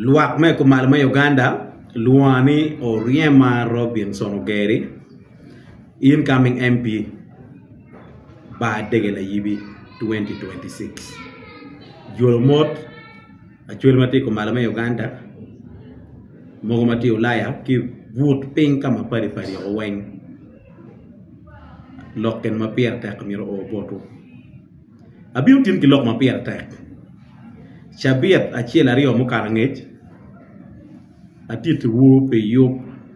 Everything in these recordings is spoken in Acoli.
Lwak me i kumalo me Uganda lwonga ni Oryema Robinson Ogeri, incoming MP, Bar Dege Layibi 2026. Jolo mot acwel ma tye i kumalo me Uganda, mogo ma tye i Ulaya ki but piny ka ma padi padi woko weng lok gin ma pire tek myero oor botwu. Abino tin ki lok ma pire tek. Cabit acel aryo mukato angec, atittiwu pi yub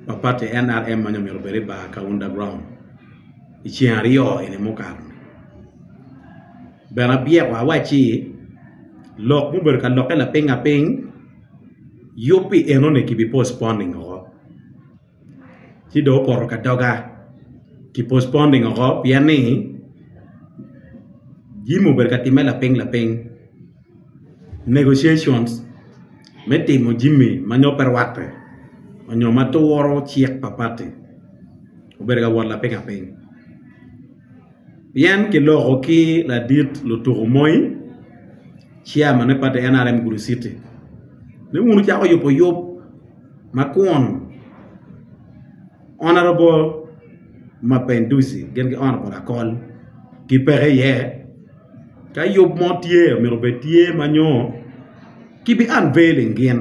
pa pati NRM ma nongo myero obed i bar Kaunda Ground i ceng aryo eni mukato. Bene abyeko awacci, lok mubedo ka lokke lapingnga piny, yub pi enoni kibi postponing woko. ci dong opoto ka doga ki postponing woko pien ni jami obedo ka timme lapiny lapiny negotiations me timo jami ma nongo pe rwatte nyo ma turo cik pa pati obedo ka wot lapiny lapiny. Pien kiloko ki ladit lutuku moi, chairman me party NRM Gulu City, ni wun wucako yubo yub ma kun Honourable Mapenduzi gin ki Honourable Akol gipeke iye. Ka yub mo tye myero obed tye ma nyo kibi unveiling gin.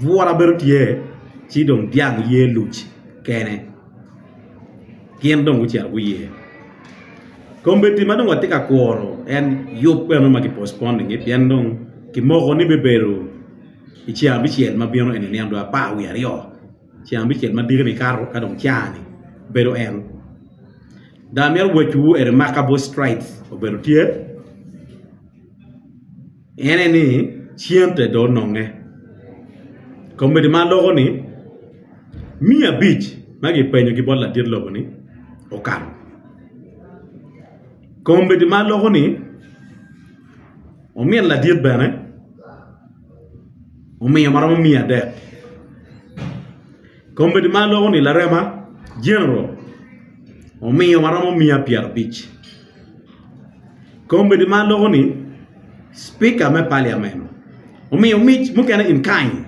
Bwura bene tye, ci dong dyang oye luc kene, gin dong gucito guye. Kombeddi ma dong watye ka kuro en yub bene ma ki postponing-nge pien dong kimoko ni bibedo i ceng abicel ma bino eni nino dong apar wiye aryo, ceng abicel ma diki-ni kato ka dong caa-ni bedo en. Dong amito wacciwu eni Markabou Straits obedo tye. En aye ni cente dong ononge. Kombeddi ma aloko ni miya abic ma kipenyo ki bot ladit lobo ni okato. Kombeddi ma aloko ni omin ladit bene omiyo ma romo miya adek. Kombeddi ma aloko ni larema general omiyo ma romo miya pyera abic. Komiti ma loko ni Spika me Paliamen omiyo mic mukene in kind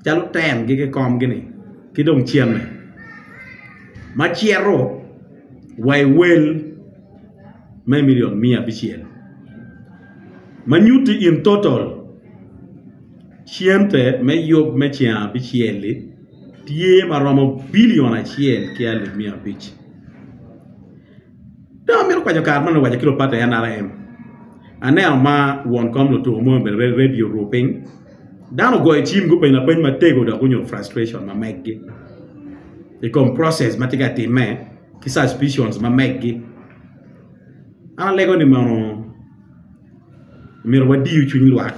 calo ten gi kikom gi ni ki dong cene ma cito wa i wel me million miya abicel ma nyuti in total cente me yub me ceng abicel li tye ma romo billion acel ki alip miya abic. Dong amito kwaco kare man me waco ki lupad pa NRM, aneno ma won kom lutuko moni obedo ready ready oru piny, dano ogoyo cim gupenyo lapeny matego dok gunyodo frustration ma meggi i kom process ma tye ka timme ki suspicions ma meggi, an alego ni mono. Myero wadiyu cwiny lwak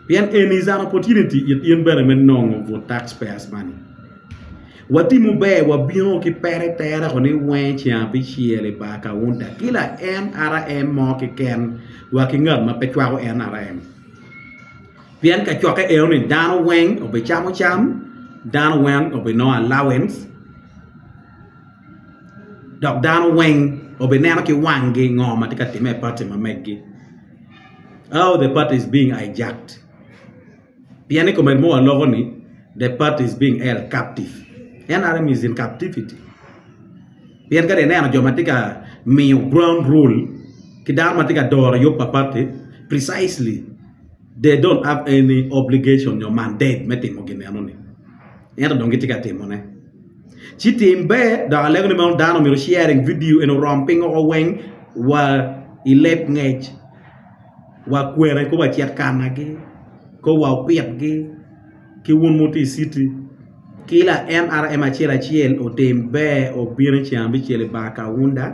pien eni is an opportunity it in bene me nongo good tax payers money. Watimu ber wabino ki pere tere ko ni wenge ceng abicel i bar kaunta ki la NRM mo ki ken wa ki ngat ma pe cwako NRM. Pien ka cokke eno ni dano weng obi camo cam, dano weng obi nongo allowance, dok dano weng obineno ki wangi ngo ma tye ka timme i pati ma megi how the party is being hijacked pien i komedo moa loko ni the party is being held captive nrm is in captivity pien kadi ineno jo ma tye ka miyo ground rule ki dano ma tye ka doro yub pa party precisely they don't have any obligation nyo mandate me timo gin eno ni ento dong gitye ka timone. Ci tim ber dok alego ni meno dano omyero sharing video eni orom piny oko weng wa i leb ngec wa kwene kong wacit kana gi kong wa opit gi ki wun ma wutye i city ki la nrm acel acel otim ber obin i cen abicel i bar kaunda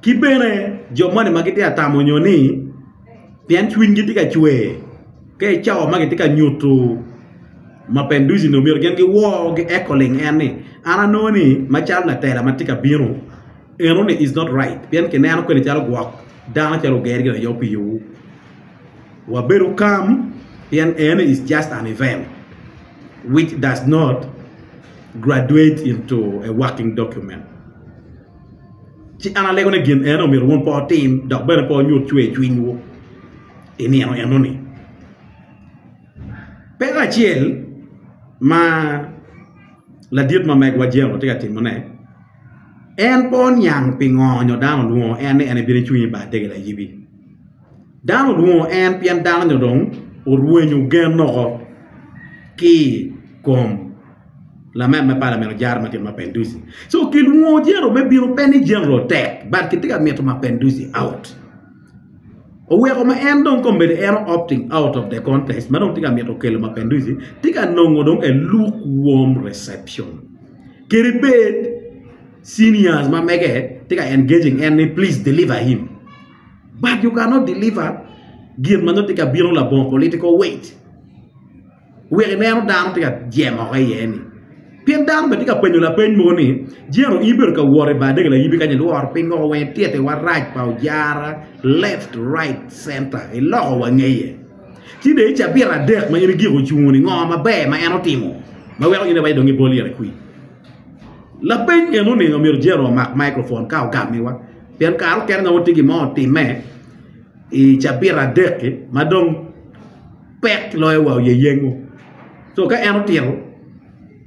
ki bene jo moni ma gitye ka tamo nyo ni pien cwinygi tye ka cwer ka i cawa ma kitye ka nyuto ma Penduci onongo myero gin giwor gieko ling en ni an anongo ni macalo latela ma tye ka bino enoni is not right pien kineno kwede calo gwok dano calo oger gin aye pi yowu wabedo calm pien enoni is just an event which does not graduate into a working document. Ci an alego ni gin eno omyero wun pe wutim dok bene pe wunyut cwer cwinywu i nino enoni. Peko acel ma ladit ma megwa Jemo tye ka timone, en pe oniang pingo nyo dano olwongo en ni en ebino ecung i bar degel ayibi. Dano olwongo en pien dano-ni dong orwenyo gen woko ki i kom lanen me palamen ojara ma tyene Mapenduzi. So kilwongo Jeno me bino pe ni Jeno otek but kitye ka mito Mapenduzi out. Oweko ma en dong kombeddi en o-opting out of the contest ma dong tye ka mito kelo Mapenduzi tye ka nongo dong a lukewarm reception. Kadi bed seniors ma mege tye ka engaging en ni please deliver him. but you cannot deliver gin ma nongo tye ka bino labongo political weight wek ineno dano tye ka jemoko iye ni pien dano bene tye ka penyo lapeny mogo ni jeno in bedo ka wot i bar dege layibi kanya ilworo piny woko weng ityete warac pa ojara left right center iloko wangeye ci dong icabira adek ma in igiko ocungo ni ngo maber ma en otimo ma weko in iwaco dong ibol yere kwi Lapeny eni oningo myero Jero omak microphone ka ogamiwa pien kare mukene nongo tye gin mo otime i cabita adek ki ma dong pek loyo wa oye yengo co ka en otito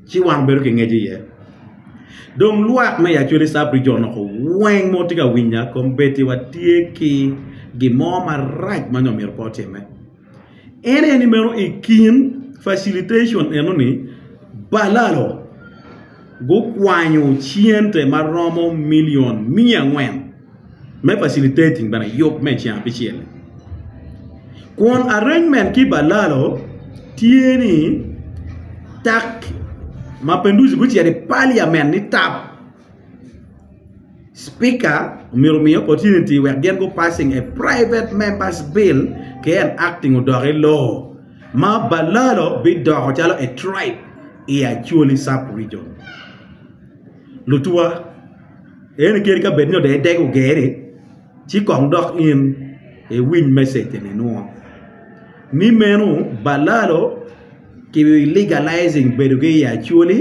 ci wan wabedo ki ngec iye dong lwak me Yacwele Sub Region onongo weng mo tye ka winya kombeddi watye ki gin mo marac ma nongo myero pe otime. En aye ni meno i kin facilitation eno ni balalo gukwanyo cente maromo million miya angwen me facilitating bene yub me ceng abicel kun arrangement ki balalo tye ni tak Mapenduzi gucito i parliament ni tap. Spika omyero omi opportunity wek gin gu passing a private members bill ki enacting odok i law ma balalo bidoko calo a tribe i Acholi sub region. Lutwa eni kadi ka bed ni dong idego geri ci kong dok in iwiny message eni nwo ni meno balalo ki legalizing bedo gi i Acholi.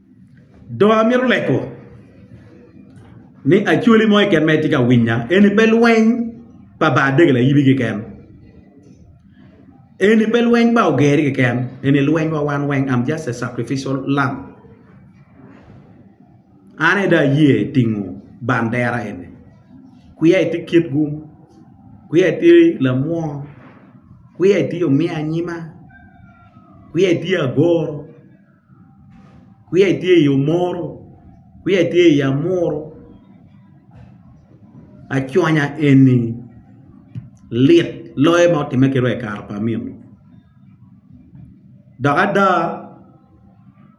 Dong amito leko ni Acholi mo keken ma itye ka winya eni pe lweny pa ba adege layibi keken, eni pe lweny pa ogeri keken eni lweny pa wan weng am just a sacrificial lamb an aye dong aye tingo bandera eni kwiya itye kitgu, kwiya itye lamwony, kwiya itye omiyo anyima, kwiya itye agoro. kwiya itye i omoro kwiya itye i amuru aconya eni lit loyo ma otime ki ro i kare pa amiro dok ada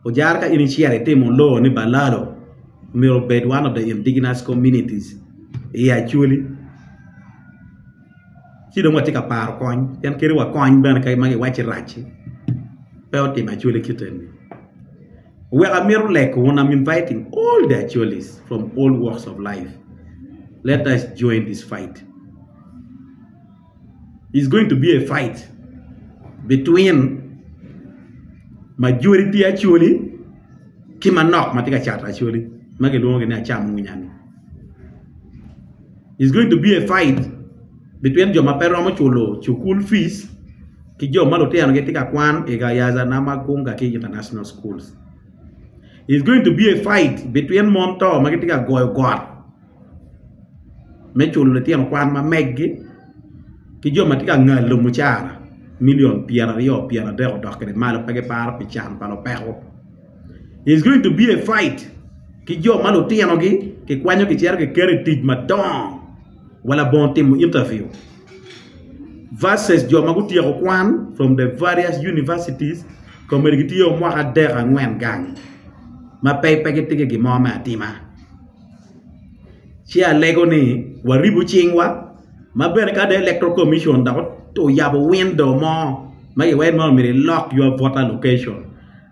ojara ka in icito itimo loo ni balalo myero obed one of the indigenous communities i acholi. ci dong watye ka paro kony pien kadi wa kony bene ka ma giwacci rac-ci pe otimo acwali kite ni wek amito leko wun am inviting all the Achwalis from all walks of life let us join this fight is going to be a fight between majori pi Achwali ki manok ma tye ka cato Achwali ma kilwongo ni acam winya ni is going to be a fight between jo ma pe romo culo cukul fees ki jo ma lutino gi tye ka kwan i Gayaza na ma gung ka ki i international schools is going to be a fight between mon to ma gitye ka goyo got me culo litino kwan ma meggi ki jo ma tye ka ngalo mucara million pyer aryo pyer adek odok kede malo pe giparo pi can pa lupeko is going to be a fight ki jo ma lutinogi kikwanyo kicito kiketo i tic madongo wa labongo timo interview versus jo ma gutyeko kwan from the various universities komedi gitye o mwaka adek angwen gang ma pe pe gitye ki gin mo me atima ci alego ni waribu cingwa ma bene ka dong electoral commission dok oyabo window mo ma iwaco ni mono myero ilok your voter location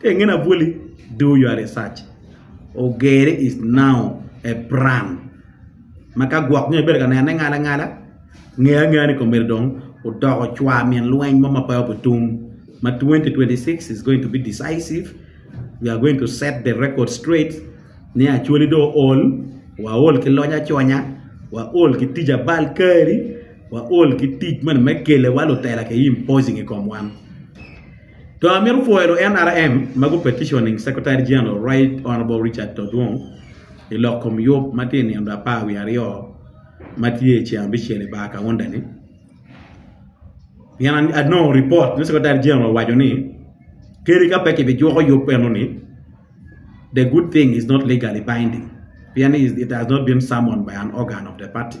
Ka i nge labwoli, do your research. Ogere is now a brand ma ka gwok nyo ibedo ka nene ngala ngala, nge angeya ni komedo dong odoko cwa min lweny mo ma pe obitum ma 2026 is going to be decisive, we are going to set the record straight ni Acholi do ool, wa ool ki lony aconya, wa ool ki tic abal kari, wa ool ki tic moni me kele wa lutela ke imposing i kom wan. Dong amito pwoyo lu NRM ma gu petitioning Secretary General Right Honourable Richard Todwong i lok kom yub ma tye i nino apar wiye aryo ma tye i ceng abicel i bar kaunda ni pien anongo report ni Secretary General owaco ni kadi ka pe ki bi juko yub eno ni the good thing is not legally binding pien it has not been summoned by an organ of the party.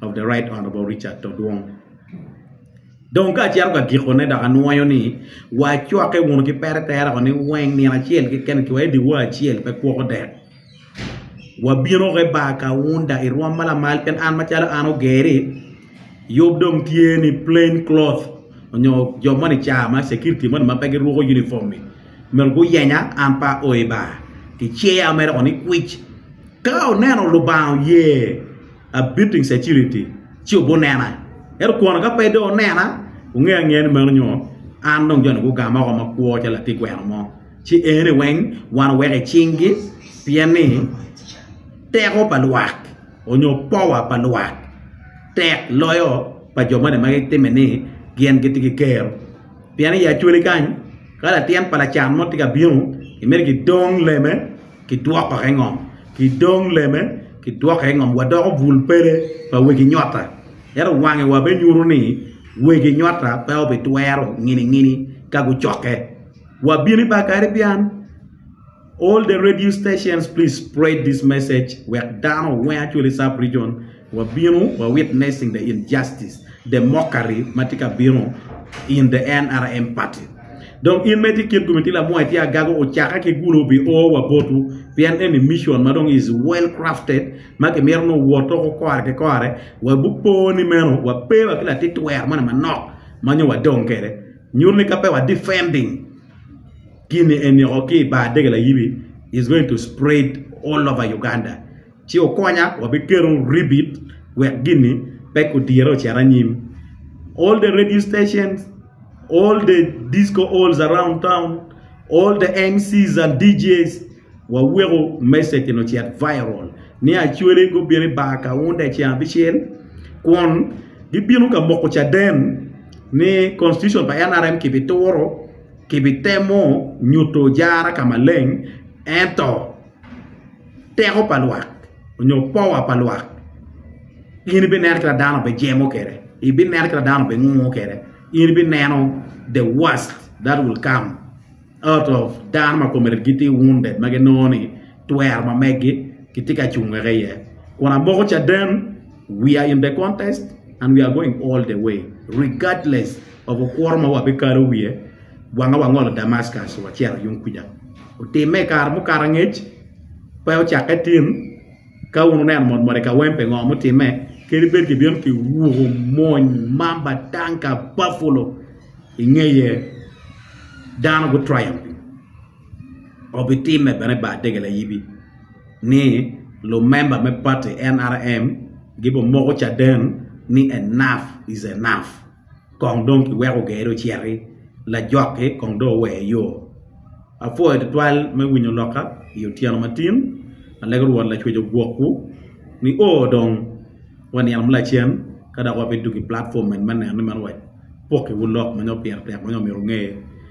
of the Right Honourable Richard Todwong. Dong ka acito ka gikone dok anwoyo ni wacwakke wunu ki pere tera ni weng nino acel keken ki wa ediwa acel pe kwoko dek. Wabino ke bar kaunda i rwom malamal pien an macalo an ogeri yub dong tye ni plain cloth onyo jo moni ca ma security moni ma pe giruko uniform ni myero guyenya an pa o i bar. Kiceya mere ni kwic ka oneno Lubanga oye abito i caciliti ci obunena. Ento kwon ka pe dong onena, wunge angeya ni meno nyo an dong jo-ni gugama oko makwo calo latig gweno mo. Ci eni weng wan oweko i cinggi, pien ni teko pa lwak onyo powa pa lwak tek loyo pa jo moni ma gitime ni gin gitye ki ker. Pien i actually kany, ka latin pa lacan mo tye ka bino, gimito gidong leme kidwoke i ngom, ki dong leme kidwoke i ngom, wadoko bul pele pa wegi nyotta. Ento wangewa binyuto ni wegi nyotta pe obitwero nginingini ka gucokke. Wabino i bar Caribbean, all the radio stations please spread this message wek dano oweng actually sub region. Wabino wa witnessing the injustice, the mockery ma tye ka bino in the NRM party. Dong in ma itye kit Gumitila Amwar itye agaga ocakke ki guno bi o wa botwu pien eni mission ma dong is well crafted ma kimito ni owot toko kore ki kore wa bupo ni meno wa pe wa ki latit wer moni manok ma nyo wa dong kede nyuto ni ka pe wa defending gini eni oko ki i bar dege layibi is going to spread all over Uganda. ci okonya wabiketo ribit wek gini pe kudire ocit anyim all the radio stations all the disco halls around town all the MCs and DJs waweko message ni ocit viral ni Acholi gubino i bar Kaunda ceng abicel kun gibino ka moko caden ni constitution pa NRM kibituro kibitemo nyuto jara ka maleng ento teko pa lwak onyo powa pa lwak in ibineno kit ma dano bijemo kwede ibineno kit ma dano bingungo kwede in ibineno the worst that will come out of dano ma kome gitye wounded ma ginongo ni twero ma megi gitye ka cungo wek iye kun amoko caden. We are in the contest and we are going all the way regardless of okworo ma wabikalo wiye, wanga wangolo Damascus wacito yung kuja. Otimme i kare mukato angec, pe ocakke tin, ka wun wuneno mot mot i Kawempe ngo mutimme, kadi bed kibino ki wuko mony, mamba, tanka, buffalo, ingeye dano gu triumphing. obitimme bene i bar dege layibi ni lumemba me pati NRM gibimoko caden ni Enough is enough kong dong kiweko gere ociti lajokki kong dong oweye yo. Apwoyo tutwal me winyo lokka i otyeno matin ma lego Rwot Lacwec ogwokwu ni o dong wanino ma lacen ka dok wabidwogo i platform eni me neno ni meno wapokkiwu lok ma nongo pire tek ma nongo myero wunge.